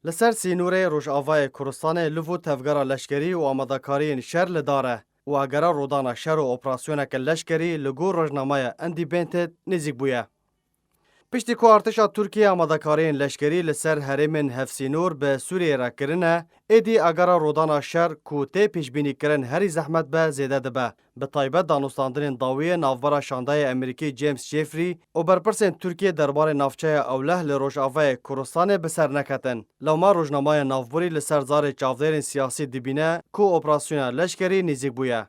Li ser sînorê Rojavayê Kurdistanê li vir tevgera leşkerî û amadekariyên şer li dar e û agera rûdana şer û operasyoneke leşkerî li gor rojnameya Independent nêzîk bûye. Piştî ku artêşa Tirkiyê amadekariyên leşkerî li ser herêmên hevsînor bi Sûriyeyê re kirine, êdî agera rûdana şer ku tê pêşbînîkirin herî zehmet be zêde dibe. bi taybet danûstandinên dawî yê navbera şandayê Emerîkî James Jeffrey û berpirsên Tirkiyê derbarê navçeya Ewleh li rojavayê Kurdistanê bi ser neketin. Lewma rojnameya navbûrî li ser zarê çavdêrên siyasî dibîne ku operasyona leşkerî nêzîk bûye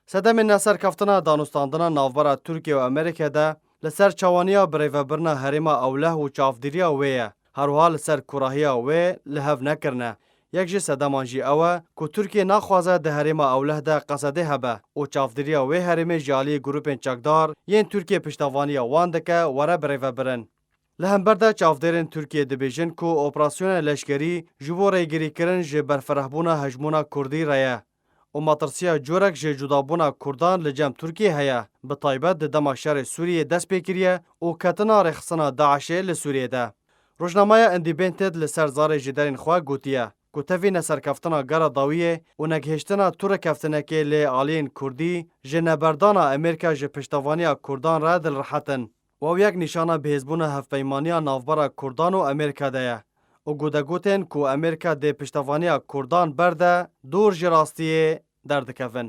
sedemên neserkeftina danûstandina navbera Tirkiye û Emerîke de Li ser çawaniya birêvebirina herêma ewleh û çavdîriya wê ye, herwiha li ser kurahiya wê li hev nekirine. Yek ji sedeman jî ew e ku Tirkiye naxwaze di herêma ewleh de Qesedê hebe û çavdîriya wê herêmê ji aliyê grûpên çekdar yên Tirkiye piştevaniya wan dike were birêvebirin. Li hember de çavdêrên Tirkiye dibêjin ku operasyonê leşkerî ji bo rêgirîkirin ji berfirehbûna hejmûna kurdî re ye. û matirsiya corek ji cudabûna Kurdan li cem Tirkiyê heye, bi taybet di dema şerê Sûriyê dest pê kiriye û ketina rêxistina DAIŞ'ê li Sûriyê de. Rojnameya Independent li ser zarê ji derên xwe gotiye ku tevî neserkeftina gera dawiyê û negihêştina tu rêkeftinekê lê aliyên Kurdî ji neberdana Amerîka ji piştevaniya Kurdan re dilrihet in. Waw yek nîşana bihêzbûna hevpeymaniya navbera Kurdan û Amerîka de ye û ku de gotên ku Amerîka dê piştevaniya Kurdan berde dûr ji rastiyê derdikevin.